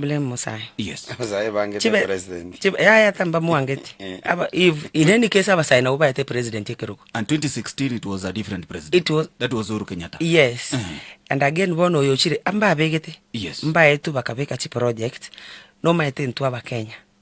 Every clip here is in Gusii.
Blame Musae. Yes. Abasae bangete Chibe- president. chibe- yaya tambamwangeti Eh. Aba- if in any case abasae nabo baete president ekerogo And 2016 it was a different president. It was- That was Uhuru Kenyatta. yes Eh. and again bono oyo ochire mbabegete Yes. mbaetu bakabeka chiproject nomaete intwe abakenya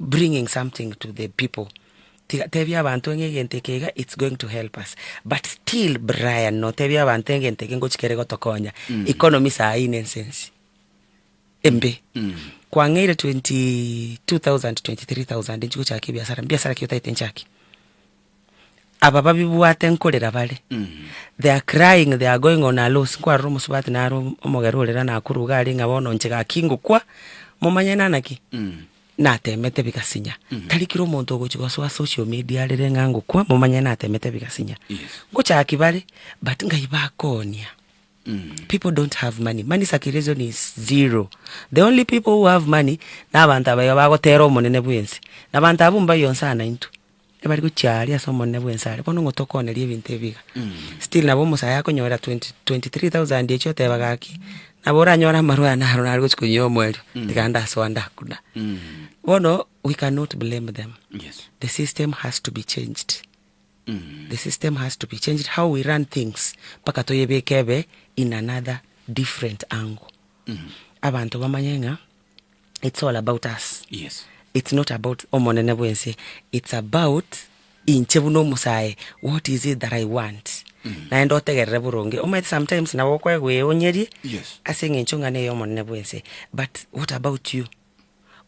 bringing something to the people tiga tebia abanto ng'a egento eke iga its going to help us but still Brian notebia abanto egento eke ngochia kere gotokonya economy saa hii nense ensi embe kwang'eire 22000 23000 nchigochaka ebiasara mbiasara ki otagete nchake. Aba babibwate nkorera bare, they are crying, they are going on a loss, nkwarora omosubati naro om- omogera ore rana akoruga are ng'a bono inche gaki ngokwa, momanye nana ki? natemete bigasinya. Tari kera omonto ogochi gosoa social media arere ng'a ngokwa, momanye natemete bigasinya. Yes. Ngochaki bare, but ngai bakonia. People don't have money, money circulation is zero, the only people who have money, nabanto abaiga bagotera omonene bwense, nabanto abwo mbayo nsa naintwe. Ebari gochia aaria ase omonene bw'ensare, bono ng'o tokooneria ebinto ebi iga? Still nabo omosae akonyorera twenty twenty three thousand echio oteba gaki, nabo oranyore amarwa aya naro nare gochia konywa omoerio, tiga ndasoa ndakuna. Bono we cannot blame them, the system has to be changed, the system has to be changed how we run things mpaka toyebeke ebe in another different angle. Abanto bamanye ng'a. it's all about us Yes. it's not about omonene bwense it's about inche buna omosae what is it that i want Mm. naende otegerere boronge omanyete sometimes nabo okwegweonyerie Yes. ase eng'encho eng'ana eye omonene bwense but what about you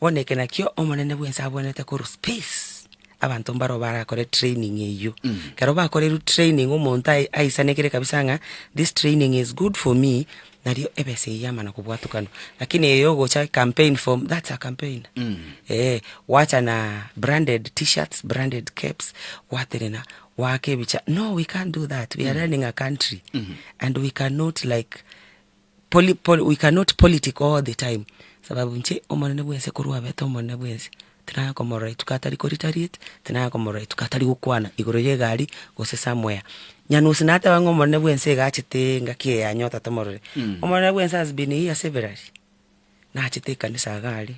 bono eke nakio omonene bwense abwenerete korwa space abanto mbaro barakore training eyio Mm. ekero bakorerwe training omonto ai- aisanekire kabisa ng'a this training is good for me nario ebesa eye yamana kobwatukanwa, lakini eye ogocha i campaign form, that's a campaigner eeh, gwacha na branded t-shirts, branded caps, gwaterena goaka ebicha, no we can't do that, we are running a country and we cannot like poli poli we cannot politic all the time, sababu inche omonene bwense korwa abete omonene bwense. Tinakomorora rituko atari korita-rita, tinakomorora rituko atari gokwana igoro y'egari gose ase amoya. Nyanusi nateba ng'a omonene bw'ense iga achete engaki eye anyota tomorore. Omonene bw'ense has been here severally, nachete ekanisa iga are,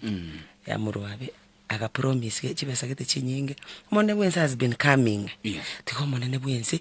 ya morwabe, aga promise chibesa gete chinyinge, omonene bw'ense has been coming. Yes. Tiga omonene bw'ense.